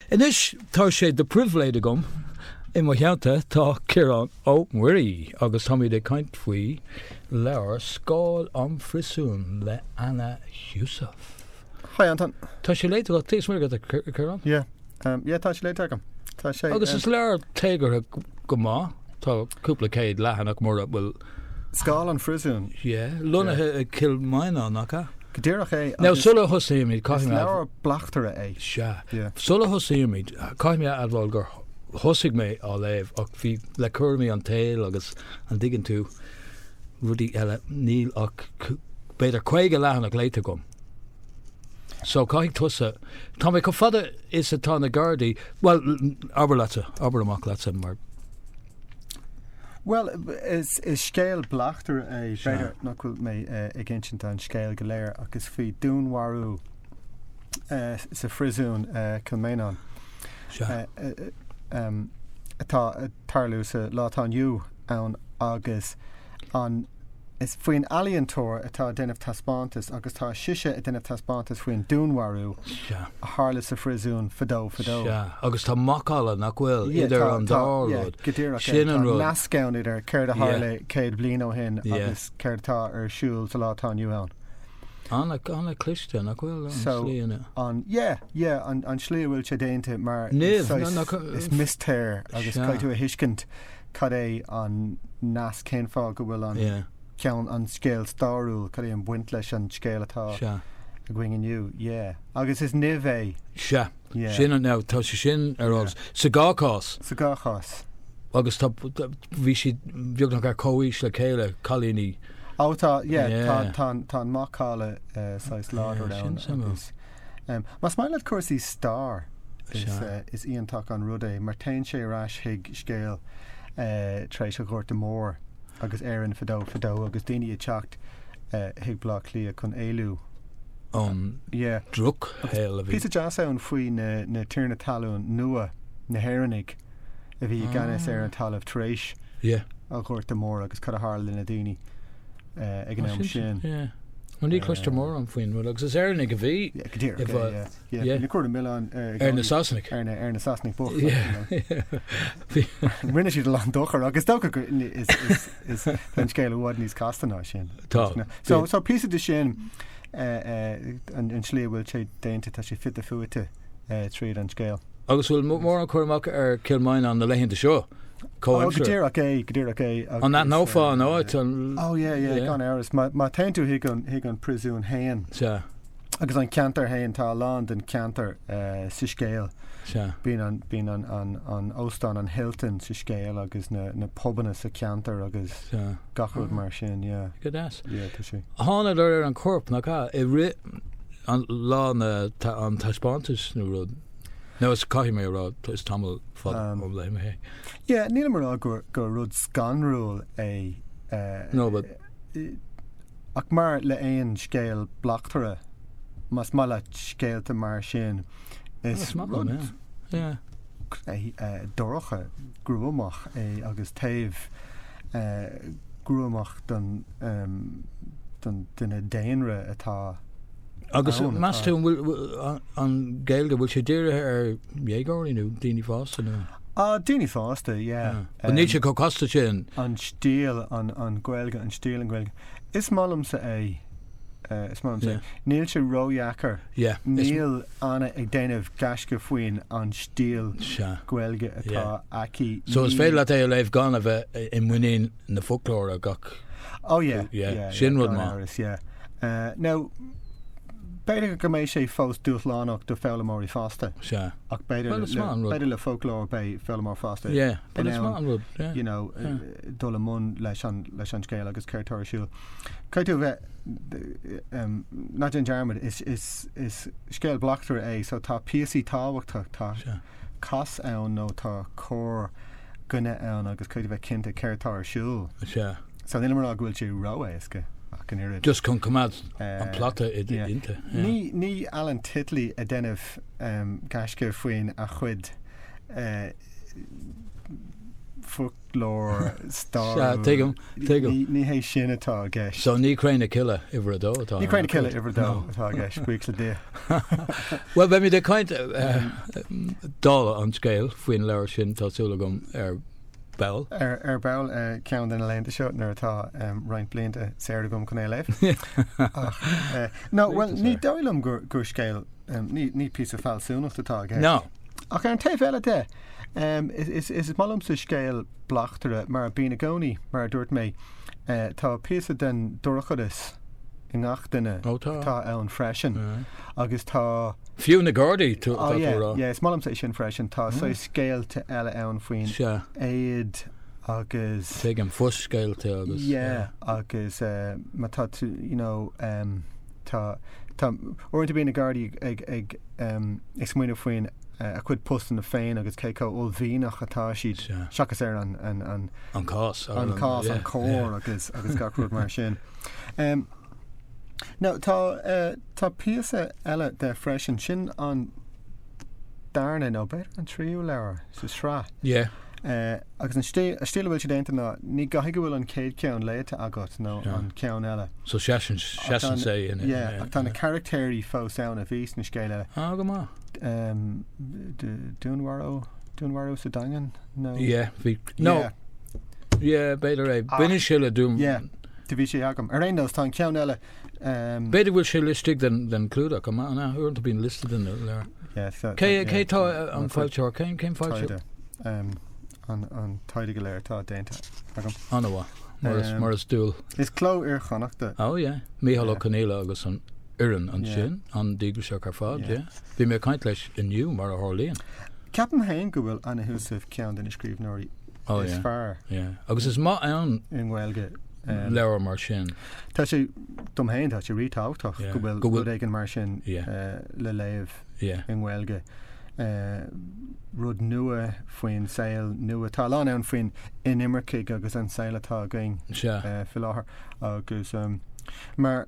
Anois tá sé de pribhléid agam, i mo theannta tá Ciarán Ó Muirí agus táimíd ag caint faoi leabhar Scáil an Phriosúin le Anna Heussaff. Hi Antaine. Tá sé léite agat? Is maith agat é Ciarán? Yeah, yeah tá sé léite agam. Tá sé. Agus is leabhar téagartha go maith, tá cúpla céad leathanach ann nach bhfuil. Scáil an Phríosúin. Yeah, lonnaithe i gCill Mhaighneán, nach ea? Go díreach é. Now, sula thosaímid, caithfidh mé... Is leabhar bleachtaireachta é. Sea. Sula thosaímid, caithfidh mé a admháil gur thosaigh mé á léamh ach bhí, le cúraimí an tsaoil agus, an dtuigeann tú, rudaí eile, níl ach b'fhéidir caoga leathanach léite agam. So, caithfidh tusa, tá mé chomh fada is atá na gardaí, bhuel, abair leatsa, abair amach leatsa mar, Bhuel, is scéal bleachtaire é. B'fhéidir nach bhfuil mé ag insint an scéil go léir ach is faoi dúnmharú sa phríosún Cill Mhaighneáin atá ag tarlú sa lá atá inniu ann agus an Is faoin ealaíontóir atá ag déanamh taispeántas agus tá sise ag déanamh taispeántas faoin dúnmharú Sea. a tharla sa phríosún fadó fadó. Sea. Agus tá macalla, nach bhfuil, Yeah, idir tá, an tá, dá yeah, rud. go díreach é. Sin Tá an rud. nasc ann idir céard a tharla Yeah. céad bliain ó shin Yeah. agus céard atá ar siúl sa lá atá inniu ann. An-, an-chliste, nach bhfuil, an slí ina. So. an, yeah, yeah, an, an slí a bhfuil sé déanta mar Nimh, saghas- na- na- is mistéir agus Sea. caithfidh tú a thuiscint cad é an nasc, cén fáth go bhfuil an ceann, an scéal stairiúil, cad é an baint leis an scéal atá againn inniu, yeah. Agus is nimh é. Sea. Yeah. Sin an, now, tá sé sin ar eolas. Sa dá chás. Sa dá chás. Agus tá, bhí siad beagnach ar comhaois le chéile, cailíní. Ó tá, yeah, tá an macalla, uh, sách láidir ann. Sin Más maith leat cúrsaí stair is iontach an rud é mar téann sé ar ais chuig scéal tar éis an Ghorta Mhóir agus Éirinn fadó fadó agus daoine ag teacht chuig Baile Átha Cliath chun éalú ón drochshaol a bhí. Tá píosa deas ann faoi na tiarnaí talún nua, na hÉireannaigh. a bhí i gceannas ar an talamh tar éis an Ghorta Mór agus cad a tharla le na daoine ag an am sin. Mar ní chloistear mórán faoi an bhfuil agus is Éireannaigh a bhí go dtí cuirtear an milleán ar na Sasanaigh ar na Sasanaigh bhuel rinne siad a lán dochar agus ach tá an scéal i bhfad níos casta ná sin Tá so is breá liom sin an slí bhfuil sé déanta tá sé fita fuaite. tríd an scéal. Agus bhfuil mórán cur amach ar Kilmainham na laethanta seo? Comhaimsir. Go díreach é, go díreach é. An aithneofá an áit? Ó, yeah, yeah, gan amhras. Má téann tú chuig an priosún féin. Sea. Agus an ceantar féin, tá a lán den ceantar sa scéal. Sea. Bíonn an óstán, an Hilton sa scéal agus na pubanna sa cheantar agus gach rud mar sin, yeah. Go deas. Yeah, tá sí. Thángadar ar an corp, nach ea? I rith. an lá na ta, an taispeántas nó rud. Nó is caithfidh mé a rá is tamall fada um, ó léigh mé é. Yeah, nílim ag rá gur, gur rud scanrúil é. Uh, no, but... Ach mar le aon scéal bleachtaire, más maith leat scéalta mar sin, is rud... Yeah. dorcha gruamach é agus taobh gruamach den duine daonna atá ann. Agus meas tú an bhfuil an Gaeilge, bhfuil sé dírithe ar dhéagóirí nó daoine fásta nó? Ah, daoine fásta, yeah. Ah. Bhuel níl sé chomh casta sin. An stíl, an Ghaeilge, an stíl, an Ghaeilge. Is maith liomsa é, is maith liomsa é. Yeah. Níl sé ródheacair. Yeah. Níl. Anna ag déanamh gaisce faoin an stíl Gaeilge atá aici, So is féidir leat é a léamh gan a bheith i muinín an fhoclóra gach Oh yeah, yeah, yeah, sin rud maith. Amhras, yeah. Now, b'fhéidir go mbeidh sé fós dúshlánach do foghlaimeoirí fásta. Sea. Ach b'fhéidir Well, is maith an rud. b'fhéidir le foclóir beidh foghlaimeoir fásta Yeah, but in ann it's, maith an rud. Yeah. you know, dul i mbun leis an leis an scéal agus céard tá ar siúl. Caithfidh tú a bheith ná déan dearmad, is scéal bleachtaire é so tá píosaí tábhachtach, tá cas ann nó tá cor coinne ann agus caithfidh tú a bheith cinnte céard atá ar siúl. So nílim ag rá go bhfuil sé ró-éasca ach an oiread. Just chun coimeád an plota istigh. Ní Alan Titley ag déanamh gaisce faoin a chuid foclóir stairiúil. Ní hé sin atá i gceist. So ní Cré na Cille uimhir a dó atá i gceist. Ní Cré na Cille uimhir a dó atá i gceist, buíochas le Dia. Bhuel, beimid ag caint dála an scéil faoin leabhar sin, tá súil agam, ar ball. Ar ball ceann de na laethanta seo nuair atá roinnt blianta saor agam chun é a léamh. Ach, nó bhuel, ní dóigh liom gur scéal. Ní píosa fealsúnacht atá i gceist. No. Ach ar an taobh eile de, is maith liomsa scéal bleachtaire mar bíonn i gcónaí. Mar a dúirt mé, tá píosa den dorchadas i ngach duine atá ann freisin agus tá. Fiú na Gardaí atá tú a rá. Is maith liomsa é sin freisin. Tá saghas scéalta eile ann faoin éad agus. Tuigim, fo-scéalta agus. Yeah, agus má tá tú, you know. tá tá uaireanta bíonn na Gardaí ag, ag, ag, um, ag smaoineamh faoin uh, a chuid postanna féin agus cé chomh uaillmhianach atá siad Sea. seachas ar an, an, an, An cás. ar an cás, yeah, an coir yeah. agus, agus gach rud mar sin. Um, no, tá, uh, tá píosa eile de freisin, sin an darna, nó b'fhéidir an tríú leabhar sa sraith. Yeah. Agus an tslí a bhfuil sé déanta ná ní gá go bhfuil an chéad cheann léite agat nó an ceann eile. So seasann sé in a. Yeah, ach tá na caractéirí fós ann a bhí sna scéalta eile. Ah, go maith. Dúnmharú, Dúnmharú sa Daingean nó. Yeah, bhí, no, yeah, b'fhéidir é. Baineann sé le Dún. Yeah, do bhí sé agam. Ar aon nós tá an ceann eile. B'fhéidir go bhfuil sé laistigh den clúdach an ea? Uaireanta bíonn listed in the leabhar. Cé hé an foilsitheoir? Cén foilsitheoir? An taighde go léir tá déanta agam. An-mhaith. Mar is dual. Is Cló Iar-Chonnacht. Ó, é. Mícheál Ó Conghaile agus an fhoireann ansin, an-díograiseach ar fad, é. Bhí mé ag caint leis inniu mar a tharlaíonn. Ceapaim féin go bhfuil Anna Heussaff ceann de na scríbhneoirí Oh, is yeah. fearr. Yeah. Agus is maith an rud i nGaeilge. Um, leabhar mar sin. Tá sé dom féin tá sé ríthábhachtach yeah. go bhfuil go bhfuil againn mar sin yeah. uh, le léamh yeah. i nGaeilge. Uh, rud nua faoin saol nua tá a lán ann faoi na hinimircigh agus an saol atá againn yeah. uh, faoi láthair agus um, mar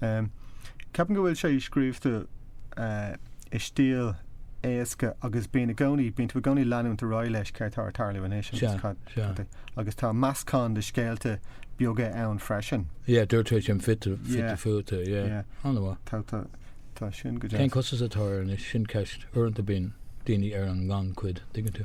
Ceapaim go bhfuil sé scríobhta i stíl éasca agus bíonn i gcónaí, bíonn tú i gcónaí ag leanúint ar aghaidh leis céard tá ag tarlú anois agus cad, agus tá meascán de scéalta beaga ann freisin. Yeah, dúirt tú é sin fite fuaite, yeah. An bhfuil? Tá, tá, tá sé sin go deas. Cén costas atá air anois, sin ceist. Uaireanta bíonn daoine ar an ngannchuid, an dtuigeann tú.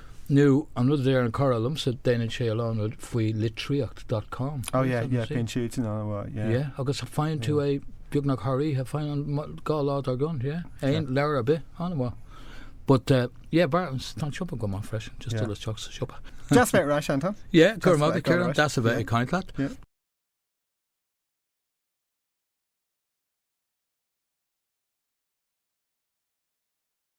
Nó an rud a deir cara liomsa, déanann sé a lán rud faoi litríocht dot com. Oh yeah, yeah, bíonn siúd an-mhaith, yeah. Yeah, agus faigheann tú é beagnach thar oíche, faigheann nó dhá lá dár gcionn, yeah, aon leabhar ar bith, an-mhaith. But eh, yeah, b'fhearr, tá an siopa go maith freisin, just dul isteach sa siopa. Deas bheith ar ais, Anton. Yeah, gura maith, Ciarán, deas a bheith ag caint leat.